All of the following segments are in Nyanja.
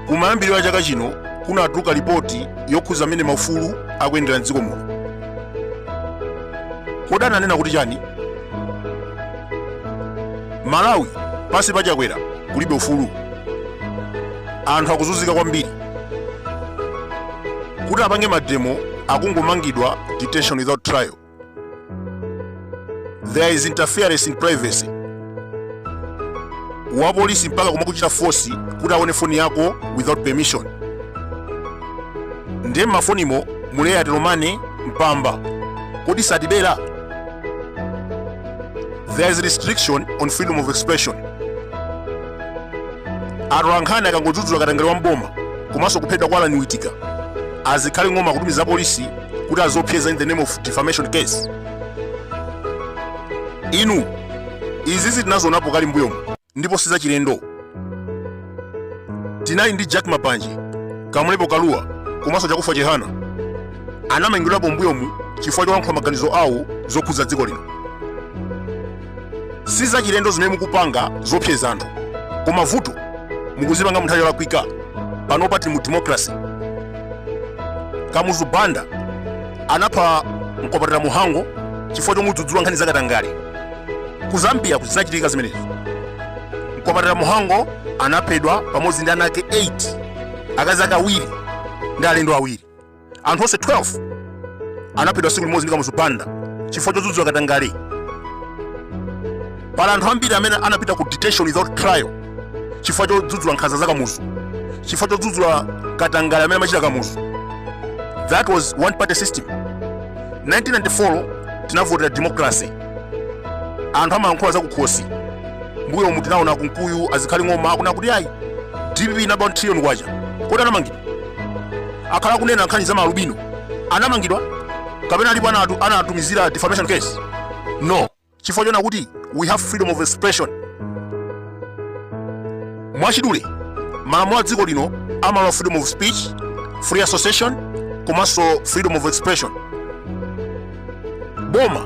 kumayambiriro a chaka chino kunatuluka lipoti yokhudza mmene maufulu akuyendera mdziko muno kodi ananena kuti chani malawi pansi pa chakwera kulibe ufulu anthu akuzunzika kwambiri kuti apange mademo akungomangidwa detention without trial there is interference in privacy wapolisi mpaka kumakuchita fosi kuti aone foni yako without permission ndiye mmafonimo muli Atilomane mpamba kodi satibera there is restriction on freedom of expression atolankhani akangodzudzula katangale wa mboma komanso kuphedwa kwa Allan Witika azikhale ng'oma kutumiza polisi kuti aziopseza in the name of defamation case inu izizi tinazionapo kale mbuyomu ndipo sizachilendo tinali ndi jack mapanje kamlepo kaluwa komanso chakufa chihana anamangidwapo mbuyomu chifukwa cholankhula maganizo awo zokhudza dziko lino si zachilendo zimene mukupanga zoopseza anthu koma vuto mukuzipanga munthawi yolakwika panopa tili mu democracy kamuzu banda anapha mkwapatira mhango chifukwa chomudzudzula nkhani zakatangale ku zambia kuti zinachitika zimenezo mkwapatira mhango anaphedwa pamodzi ndi ana ake 8 akazi ake awiri ndi alendo awiri anthu onse 12 anaphedwa tsiku limodzi ndi kamuzu banda chifukwa chodzudzula katangale pali anthu ambiri amene anapita ku detention without trial chifukwa chodzudzula nkhanza za kamuzu chifukwa chodzudzula katangale amene amachita kamuzu that was one party system 1994 tinavotera democracy anthu amalankhula za kukhosi mbuyomu tinaona kunkuyu azikhale ng'oma akunena kuti ayi dpp inaba trillion kwacha kodi anamangidwa akhala akunena nkhani za maalubino anamangidwa kapena alipo anatumizira defamation case no chifukwa choona kuti we have freedom of expression mwachidule malamulo a dziko lino amalola freedom of speech free association komanso freedom of expression boma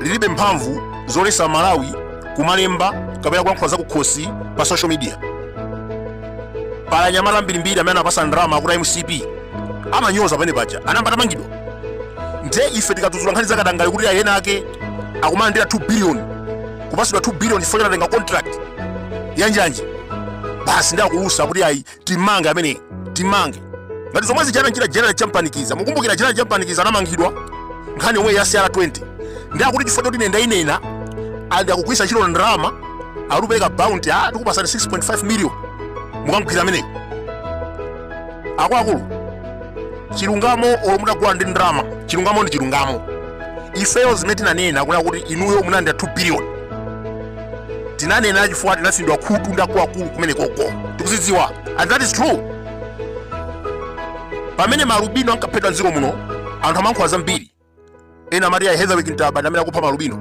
lilibe mphamvu zoletsa amalawi kumalemba kapena kulankhula za kukhosi pa social media pali anyamata ambirimbiri amene anapatsa ndalama kuti a mcp amanyoza pamene paja anayamba atamangidwa nde ife tikadzudzula nkhani zakatangale kuti ayi ena ake akumalandira 2 billion kupatsidwa 2 billion chifukwa chotenga contract yanjanji basi ndiye akulusa kuti ayi timange amene timange ngati zomwe zichitira general champanikiza mukumbukira general champanikiza anamangidwa nkhani yomwe ya CR20 ndi akuti chifukwa choti ndendendanena ndi akugwiritsa ntchito ndalama akupereka bounty ati tikupasani 6.5 million mukamgwira amene akuluakulu chilungamo olo mutagula ndi ndalama chilungamo ndi chilungamo ifeyo zimene tinanena kunena kuti inuyo munalandira 2 billion tinanena chifukwa tinatsinidwa khutu ndi akuluakulu kumene koko tikuzidziwa and that is true pamene malubino ankaphedwa mdziko muno anthu amankhula zambiri ena amati ayi heatherwick ntaba ndi amene akupha malubino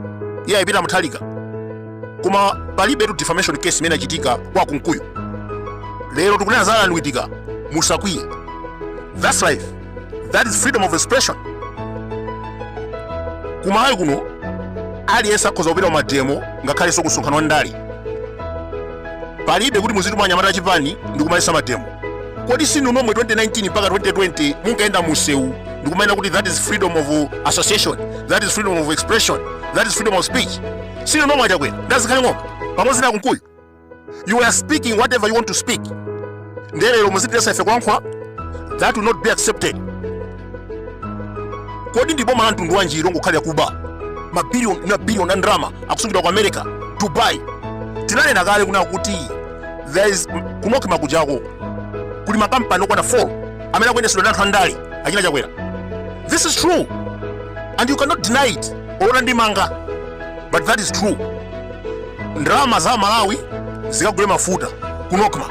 iye ayipita muthalika koma palibetu defamation case imene yachitika kwa akunkuyu lero tikunena za alan witika musakwiye that's life that is freedom of expression kumalawi kuno aliyense akhoza kupita kumademo ngakhalenso kusonkhano wa ndale palibe kuti muzituma anyamata achipani ndi kumaletsa mademo kodi sinu nomwe 2019 mpaka 2020 munkayenda mumsewu ndi kumanena kuti that is freedom of association that is freedom of expression that is freedom of speech sinu nomwe achakwera ndazikhale ng'oma pamodzi na kunkuyu you were speaking whatever you want to speak ndiye lero muzitiletsa ife kulankhula that will not be accepted kodi ndi boma la mtundu wanji longokhalira kuba mabiliyoni mabiliyoni a ndalama akusungidwa ku america dubai tinanena kale kunena kuti there is ku nocma kujako kuli makampani okwana 4 amene akuyendetsedwa ndi anthu andale achina chakwera this is true and you cannot deny it olo mutandimanga but that is true ndalama za malawi zikagule mafuta ku nocma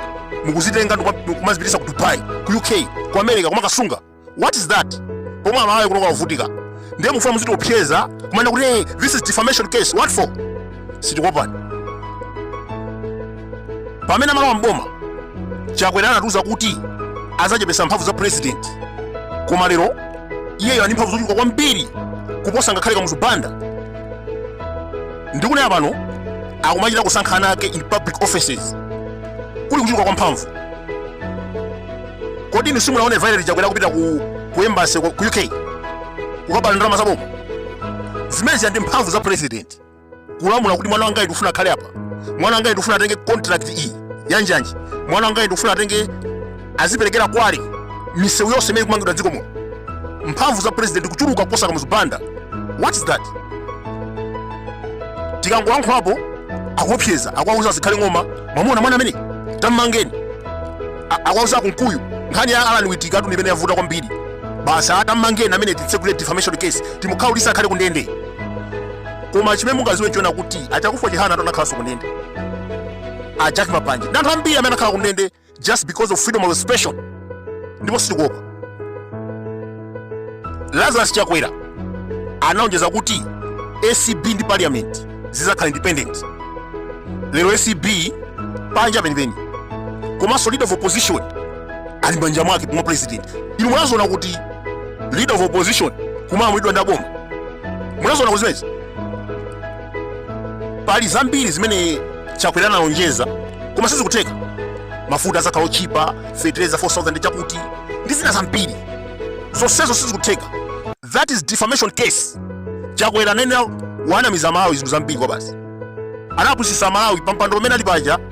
mukuzitenga nkumazipitisa ku dubai ku uk ku america kumakasunga what is that pomwe amalawi kunoko akuvutika ndiye mufuna muzitiopseza kumanena kuti hey, this is defamation case what for sitikuopani pamene amalowa mboma chakwera anatiuza kuti adzachepesa mphamvu za president koma lero iyeyo ali ndi mphamvu zochuluka kwambiri kuposa ngakhale kamuzu banda ndikunena pano akumachita kusankha ana ake in public offices kuli kuchuluka kwa mphamvu kodi inu simunaone violet chakwera kupita ku, ku embassy ku ku uk kukaba ndalama za boma zimenezi ndi mphamvu za president kulamula kuti mwana wangayi ndikufuna akhale apa mwana wangayi ndikufuna atenge contract iyi yanjanji mwana wangayi ndikufuna atenge aziperekera kwale misewu yonse imene ikumangidwa mdziko muno mphamvu za president kuchuluka kuposa kamuzu banda what is that tikangolankhulapo akuopseza akuwauza zikhale ng'oma mwamuona mwana amene tammangeni A- akuwauza akunkuyu nkhani ya alan witikatu imene yavuta kwambiri basi tammangeni amene titsegule defamation case timukhaulise akhale kundende koma chimene mungaziwe chonena kuti achakufa chihanatu anakhalanso kundende a jack mapanje ndi anthu ambiri amene anakhala kundende just because of freedom of expression ndipo sitikuopa lazarus chakwera anaonjeza kuti acb ndi parliament zizakhala independent lero acb panja penipeni komanso leader of opposition ali mmanja mwake pomwe president inu munaziona kuti leader of opposition kumalamulidwa ndi aboma munaziona kuti zimenezi pali zambiri zimene chakwera analonjeza koma sizikutheka mafuta azakhala otchipa fetereza 4000 chakuti ndi zina zambiri zonsezo sizikutheka that is defamation case chakwera anenera wanamiza amalawi zinthu zambiri kwabasi anapusisa amalawi pampando pamene ali paja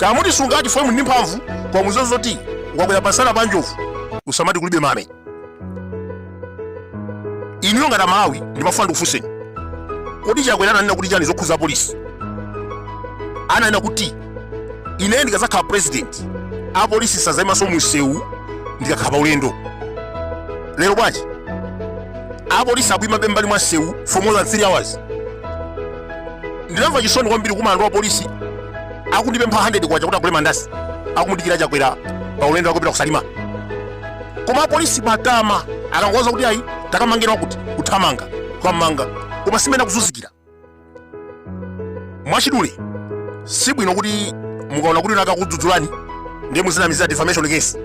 kamuti sungati fomu ndi mphamvu koma muziwe zoti ukakwera pamsana pa njovu usamati kulibe mame inuyo ngati amalawi ndimafuna ndikufunseni kodi chakwera ananena kuti chani zokhuza apolisi ananena kuti ine ndikadzakhala president apolisi sazayimanso munsewu ndikakhala pa ulendo lero bwanji apolisi akuima mmbali mwa nsewu for more than 3 hours ndinamva chisoni kwambiri kumana ndi wapolisi akundipempha 100 kwacha kuti agule mandasi akumudikira chakwera pa ulendo wakupita kusalima koma apolisi matama akangowauza kuti ayi takamangeni wakuti kuthamanga kuwamanga koma si mmene akuzunzikira mwachidule si bwino kuti mukaona kuti wina akakudzudzulani ndiye muzinamizira defamation case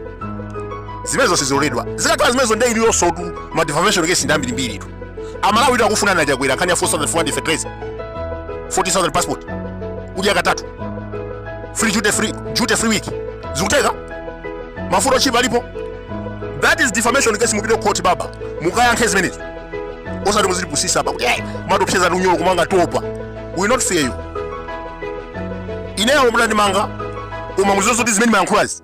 zimenezo siziloledwa zikakhala zimenezo nde iliyonsetu ma defamation case ndi ambirimbiritu amalawitu akufunani achakwera nkhani ya 4400 fertilizer 14000 passport kudya katatu free duty free duty free week zikutheka mafuta otchipa alipo that is defamation case mupite court baba mukayankhe zimenezo osati muzitipusisa apa kuti eh kumatiopseza ndi unyolo kumanga topa we will not fear you ineyo mutandimanga koma muziwe zoti zimene mayankhulazi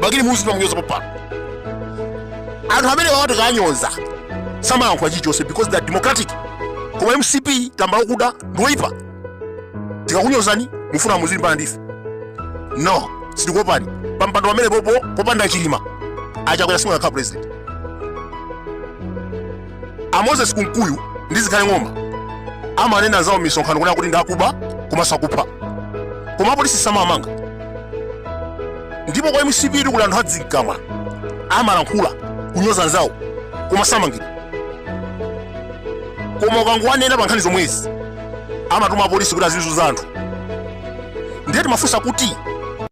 bakili muluzi timamunyoza pompano anthu amenewawa tikanyoza samayankhula chilichonse because they are democratic koma mcp tambala wakuda ndiwoyipa tikakunyozani mufuna muzilimbana ndife no sitikuopani pampando pamenepopo popanda chilima achakwera simukanakhala president a moses kunkuyu ndi zikhale ng'oma amanena anzawo mmisonkhano kunena kuti ndakuba komanso akupha koma apolisi samawamanga ndipo kwa mcp kuli anthu adzikamwa amalankhula kunyoza anzawo koma samangidwa koma ukangowanena pa nkhani zomwezi amatuma apolisi kuti azizunza anthu ndiye timafunsa kuti